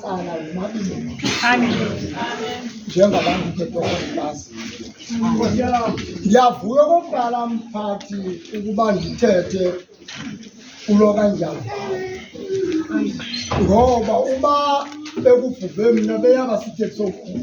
cala womabini njengabantu khetokwazibaziyo ndiyavuya okokuqala mphathi ukuba ndithethe kulo kanjalo ngoba uba bekubhubhe mna beyaba sithethe sokhulu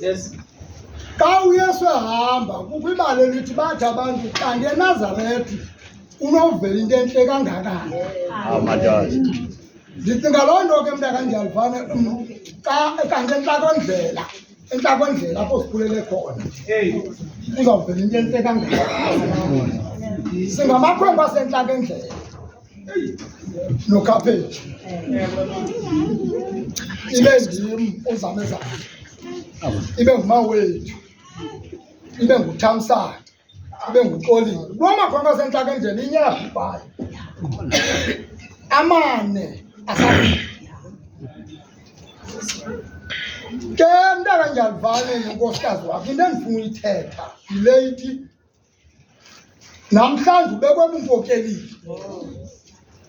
Yes. Xa uYesu ehamba kukho ibali elithi bathi abantu kanti eNazaretha unovela into entle kangakani. Awu madoda. Ndicinga loo nto ke mntaka ndiyalifane xa kanti entlakondlela entlakondlela apho sikhulele khona uzawuvela into entle kangakani. Singamakhwenkwe asentlakendlela. nokhaphetshu ibe ndim uzamezana ibe ngumawethu ibe nguthamsana ibe nguxolile lwamakhonka sentlaka endlela inyabhayo amane asa ke mntaka ndiyalivane nenkosikazi wakho into endifuna uyithetha yile ithi namhlanje ubekwe bunkokelile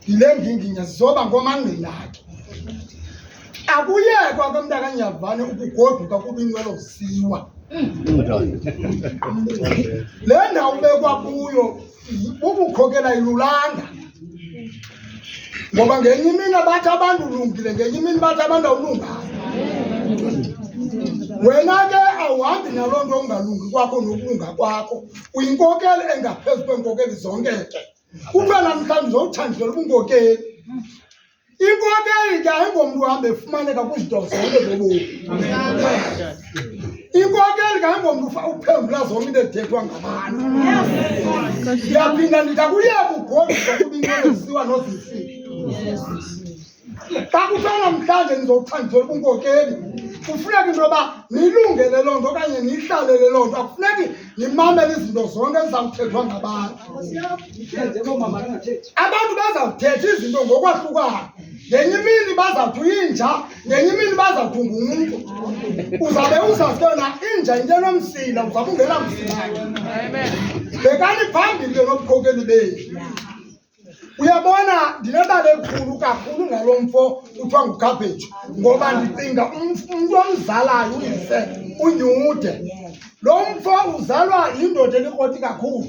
yile nginginya zizoba ngomangqina akhe akuyekwa ke mntakanyavane ukugoduka kuba inqwelo ziwa le ndawo ubekwa kuyo bubukhokela ilulanda ngoba ngenye imini abathi abantu ulungile ngenye imini bathi abantu awulunganga wena ke awuhambi naloo nto ungalungi kwakho nokulunga kwakho uyinkokeli engaphezu kweenkokeli zonke ke kuthiwa namhlanje zowuthandlela ubunkokeli inkokeli ke ayingomntu uhambe efumaneka kwizinto zonke zobomi Inkokeli kayingomntu uphendula zonke into ethethwa ngabantu. Ndiyaphinda ndithi akuye kugodiswa kuba into ezisiwa nozisi. Xa kuthiwa namhlanje ndizokuthandisela ubunkokeli kufuneka into yoba niyilungele loo nto okanye niyihlalele loo nto akufuneki nimamele izinto zonke ezizawuthethwa ngabantu abantu bazawuthetha izinto ngokwahlukayo ngenye imini bazawuthi uyinja ngenye imini bazawudunga umntu uzawube uzazi yona inja into enomsila uzawube ungena msilake bekani phambili ke nobukhokeli bethu uyabona ndinebali elikhulu kakhulu ngalo mfo kuthiwa ngukhabheji ngoba ndicinga umntu omzalayo uyise unyude lo mfo uzalwa yindoda elikroti kakhulu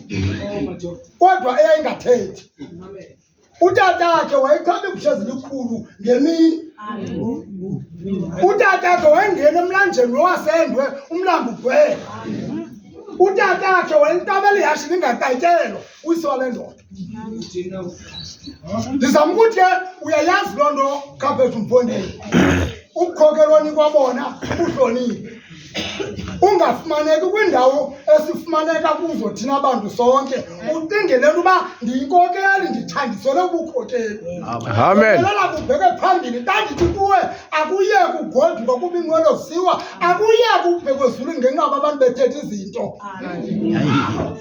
kodwa eyayingathethi Utata wakhe wayethobe ibusha zilikhulu ngemini. Utata wakhe wayengena emlanjeni lowasendwe umlambo ugcwele. Utata wakhe wayentabela ihashe lingakayitelwa uyise wale ndoda. Ndizama ukuthi ke uyayazi loo nto kaphethu mfondini. Ukukhokelwa nikwa bona ubuhlonile. ungafumaneki kwiindawo esifumaneka kuzo thina bantu sonke ucingelele uba ndiyinkokeli ndithandisele ubukhokeli amenelela kubheke phambili ndandithi kuwe akuye kugoduka kuba inqwelo siwa akuye kubhekwe ezulu ngenqaba abantu bethetha izinto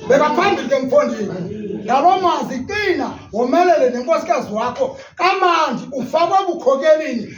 beka phambili ke mfondini ngaloo mazwi qina womelele nenkosikazi wakho kamandi ufakwe ebukhokelini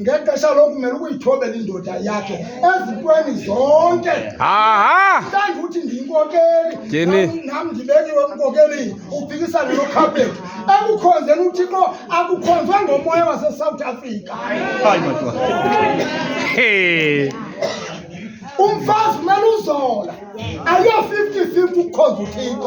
ngexesha lokumele ukuyithobela indoda yakhe ezintweni zonke mhlawumbi uthi ndiyinkokeli nam ndibekiwe emkokelini uphikisane nokhapeti ekukhonzeni uthixo akukhonzwe ngomoya wasesouth africa umfazi kumele uzola ayo-fifty fifty ukhonza uthixo